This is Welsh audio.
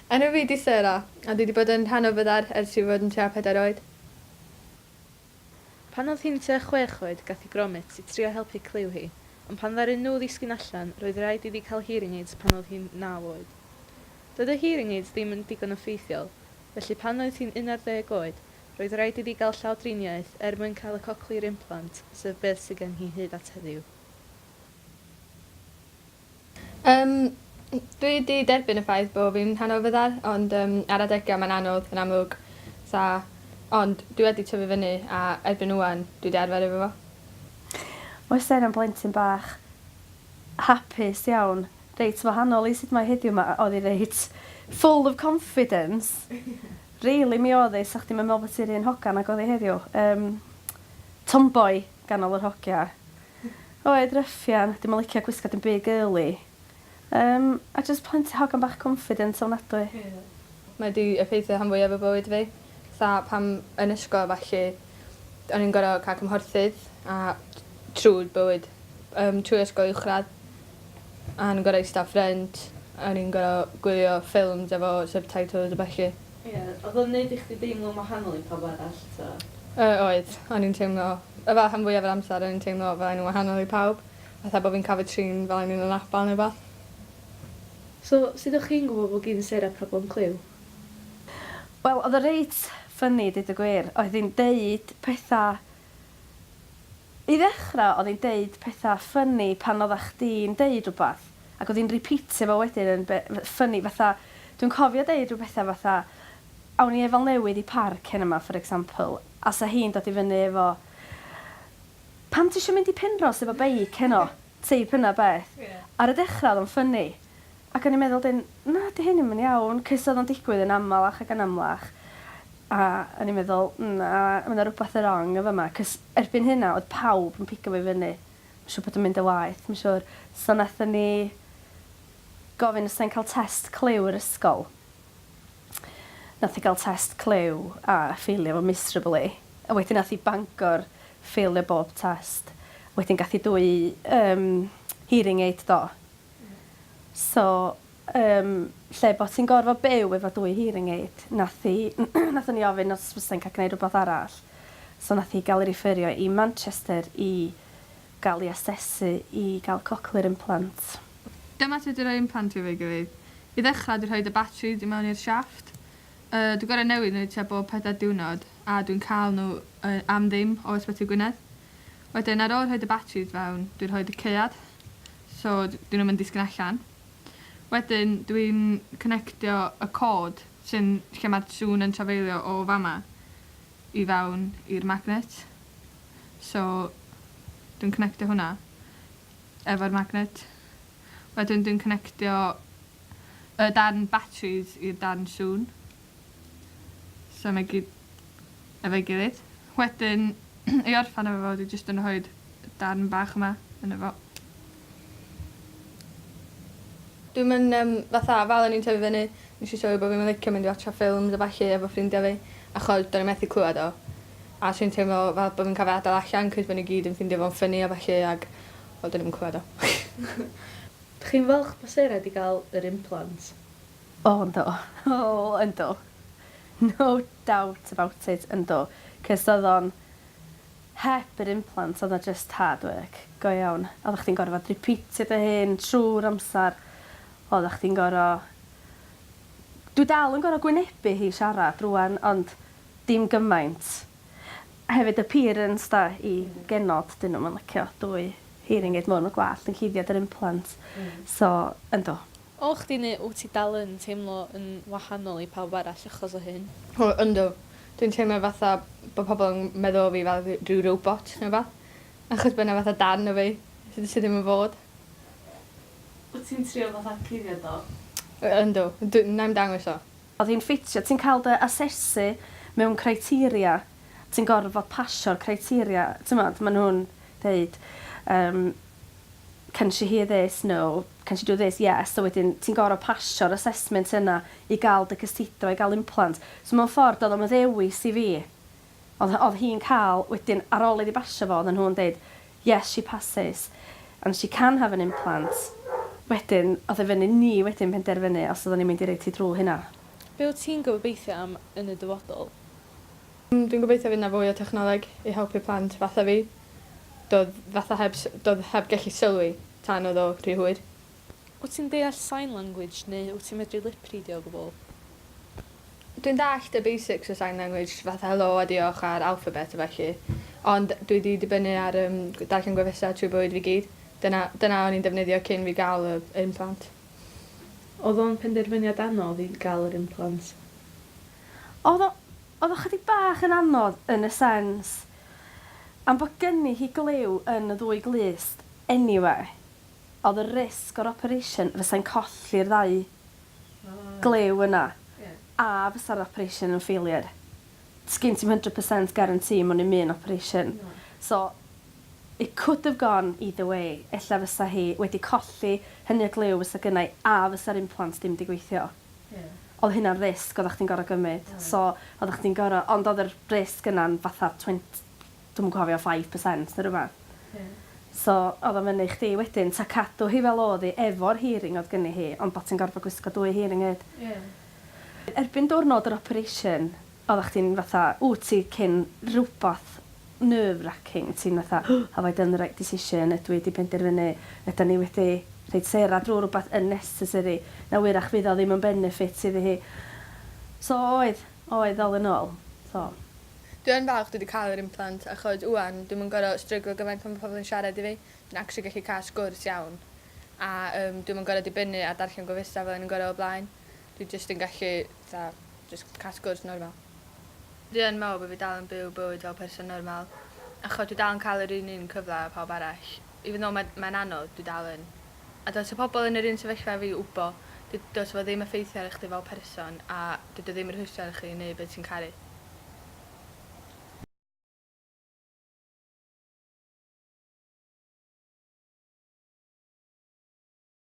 Enw fi 'di Sarah, a dwi 'di bod yn rhan o Fyddar ers i fi fod yn tua pedair oed. Pan oedd hi'n tua chwech oed gath hi gromit i trio helpu clyw hi, ond pan ddaru nhw ddisgyn allan roedd raid iddi cael hearing aids pan oedd hi'n naw oed. Doedd y hearing aids ddim yn digon o ffeithiol, felly pan oedd hi'n unarddeg oed roedd raid iddi gael llawdriniaeth er mwyn cael y cochlear implant sef beth sydd gen hi hyd at heddiw. Yym dwi 'di derbyn y ffaith bo' fi'n rhan o fyddar ond yym ar adega mae'n anodd yn amlwg. Sa ond dwi wedi tyfu fyny a erbyn ŵan dwi 'di arfer efo fo. Mae Sten yn blentyn bach hapus iawn, reit wahanol i sut mae heddiw 'ma oedd hi reit full of confidence rili mi oedd hi, 'sa chdi'm yn meddwl bod hi'r un hogan ag oedd hi heddiw. Yym tomboy ganol yr hogia. Oed ruffian, dim yn licio gwisgo dim byd girly. Yym, a jyst plenty hogan bach confident ofnadwy. Mae 'di effeithio rhan fwyaf o bywyd fi. Fatha pan yn ysgol a ballu o'n i'n gor'o' ca'l cymhorthydd a trw bywyd yym trwy ysgol uwchradd a o'n i'n gor'o' ista ffrynt a o'n i'n gor'o' gwylio ffilms efo subtitles a ballu. Ie, oedd o'n neud i chdi deimlo'n wahanol i pawb arall eto? Yy oedd, o'n i'n teimlo, yy fel rhan fwyaf yr amser o'n i'n teimlo fel o'n i'n wahanol i pawb, fatha bo' fi'n ca'l fy trin fel o'n i'n anabal ne' wbath. So, sut o'ch chi'n gwbo bo' gin Sarah problem clyw? Wel, oedd o reit funny deud y gwir, oedd hi'n deud petha I ddechrau oedd hi'n deud pethau ffyni pan oeddach chdi'n deud rhywbeth ac oedd hi'n rîpîtio fo wedyn yn ffyni fatha dwi'n cofio deud rhyw bethau fatha awn ni efal newydd i parc heno 'ma for example a 'sa hi'n dod i fyny efo pam ti isio mynd i Penrhos efo beic heno? Teip yna beth. Ar y dechra oedd o'n ffynni. Ac o'n i'n meddwl 'dyn, na 'di hyn ddim yn iawn, cys oedd o'n digwydd yn amalach ac yn amlach. A o'n i'n meddwl, na, ma' 'na rwbath yn rong yn fama, cys erbyn hynna oedd pawb yn pigo fi fyny. Ma'n siŵr bod o'n mynd yn waeth, ma'n siŵr. So nathon ni gofyn os 'sa hi'n cael test clyw i'r ysgol. Nath hi gael test clyw a ffeilio fo miserably. A wedyn nath hi Bangor ffeilio bob test. Wedyn gath hi dwy yym hearing aid do? Ie. So yym lle bo' ti'n gorfod byw efo dwy hearing aid nath hi nathon ni ofyn os fysa hi'n ca'l gneud rwbath arall. So nath hi ga'l 'i rifferio i Manchester i gael ei asesu i gael cochlear implant. Dyma sut i roi implant fi efo'i gilydd. I ddechrau, dwi'n rhoi y batris i mewn i'r siafft. Yy, dwi'n gorau newid nhw tua bob pedair diwrnod, a dwi'n cael nhw yy am ddim o Ysbyty Gwynedd. Wedyn, ar ôl rhoi y batris fewn, dwi'n rhoi y caead, so 'dyn nhw'm yn disgyn allan. Wedyn, dwi'n connectio y cord sy'n... lle ma'r sŵn yn trafeilio o fama. i fewn i'r magnet so dwi'n connectio hwnna efo'r magnet wedyn dwi'n connectio y darn batris i'r darn sŵn so mae gyd efo'i gilydd wedyn i orffan efo fo dwi jyst yn rhoid darn bach yma yno fo. Dwi'm yn yym fatha fel o'n i'n tyfu fyny nesh i sylwi bo' fi'm yn licio mynd i watsio ffilms a ballu efo ffrindia fi achos do'n i methu clŵad o. A so o'n i'n teimlo fel bo' fi'n ca'l fy adal allan 'c'os bo' n'w gyd yn ffindio fo'n ffyni a ballu ag wel do'n i 'im yn clŵad o. Dych chi'n falch bo Sarah 'di ga'l yr implant? O yndw. O yndw. No doubt about it yndw. 'C'os odd o'n Heb yr implant oedd 'na jyst hard work go iawn. Oeddach chdi'n gorfod rîpîtio dy hun trwy'r amser. Oeddach chdi'n gor'o'... Dwi dal yn gor'o' gwynebu hi siarad rŵan ond dim gymaint. Hefyd y parents 'da i genod 'dyn nw'm yn licio dwy hearing aid mowr ma' gwallt yn cuddiad yr implant so yndw. O chdi neu wt ti dal yn teimlo yn wahanol i pawb arall achos o hyn? O yndw. Dwi'n teimlo fatha bo' pobol yn meddwl o fi fel dwi rhyw robot ne' wbath. Achos bo' 'na fatha darn o fi sy sy ddim yn fod. Wt ti'n trio fatha cuddio do? O yndw. Dw- 'nai'm dangos o. Odd hi'n ffitio. Ti'n cael dy asesu mewn criteria. Ti'n gorfod pasio'r criteria. T'mod ma' nhw'n deud yym can she hear this, no, can she do this, yes, a wedyn ti'n gorfod pasio'r assessment yna i gael dy cysidro i gael implant. So mewn ffordd doedd o'm yn ddewis i fi. Oedd oedd hi'n cael, wedyn ar ôl iddi basio fo oedden nhw'n deud yes she passes and she can have an implant. Wedyn oedd e fyny ni wedyn penderfynu os oedden ni'n mynd i roid hi drwy hynna. Be wyt ti'n gobeithio am yn y dyfodol? Dwi'n gobeithio fydd 'na fwy o technoleg i helpu plant fatha fi. Do'dd fatha heb s- do'dd heb gellu sylwi tan o'dd o rhy hwyr. Wyt ti'n deall sign language neu wyt ti'n medru lipridio o gwbl? Dwi'n dallt y basics o sign language fatha helo a diolch a'r alphabet a felly. Ond dwi 'di dibynnu ar yym gw- darllen gwefusau trwy bywyd fi gyd. Dyna dyna o'n i'n defnyddio cyn fi ga'l y implant. O'dd o'n penderfyniad anodd i ga'l yr implant? Oedd o, oedd o chydig bach yn anodd yn y sens am bod gynni hi glyw yn y ddwy glust eniwe, oedd y risg o'r operation fysai'n colli'r ddau glyw yna a fysa'r operation yn failure. Sgin ti'm hundred percent guarantee mewn i'm un operation. So, it could have gone either way, ella fysa hi wedi colli hynny o glyw fysa gynna i a fysa'r implant dim di gweithio. Ie. Odd hynna'n risg oddach chdi'n gor'o' gymyd. Oedd. So oddach chdi'n gor'o'... Ond odd yr risg yna'n fatha twenty dwi'm yn cofio five percent ne' rwbath. Ie. So odd o fyny i chdi wedyn 'ta cadw hi fel odd 'i efo'r hearing odd gynni hi ond bo' ti'n gorfod gwisgo dwy hearing aid. Ie. Erbyn diwrnod yr operation Oeddach chdi'n fatha, wt ti cyn rwbath nerve racking, ti'n fatha have I done the right decision, ydw i 'di penderfynu, ydan ni wedi rhoid Sarah drwy rwbath unnecessary, na wyrach fydd o ddim yn benefit iddi hi. So oedd, oedd all in all, so. Dwi yn falch dwi 'di ca'l yr implant achos ŵan dwi'm yn gor'o' stryglo gymaint pan ma' pobol yn siarad i fi, dwi'n actually gallu ca'l sgwrs iawn a yym dwi'm yn gor'o' dibynnu ar darllen gofysta fel o'n i'n gor'o' o blaen. Dwi jyst yn gallu fatha jyst cael sgwrs normal. Dwi yn meddwl bod fi dal yn byw bywyd fel person normal achos dwi dal yn cael yr un un cyfle â pawb arall. Even though mae mae'n anodd, dwi dal yn. A dylse pobl yn yr un sefyllfa â fi wbo, dy- dylse fo ddim effeithio ar chdi fel person a dydi o ddim yn rhwystro ar chi i neud be ti'n caru.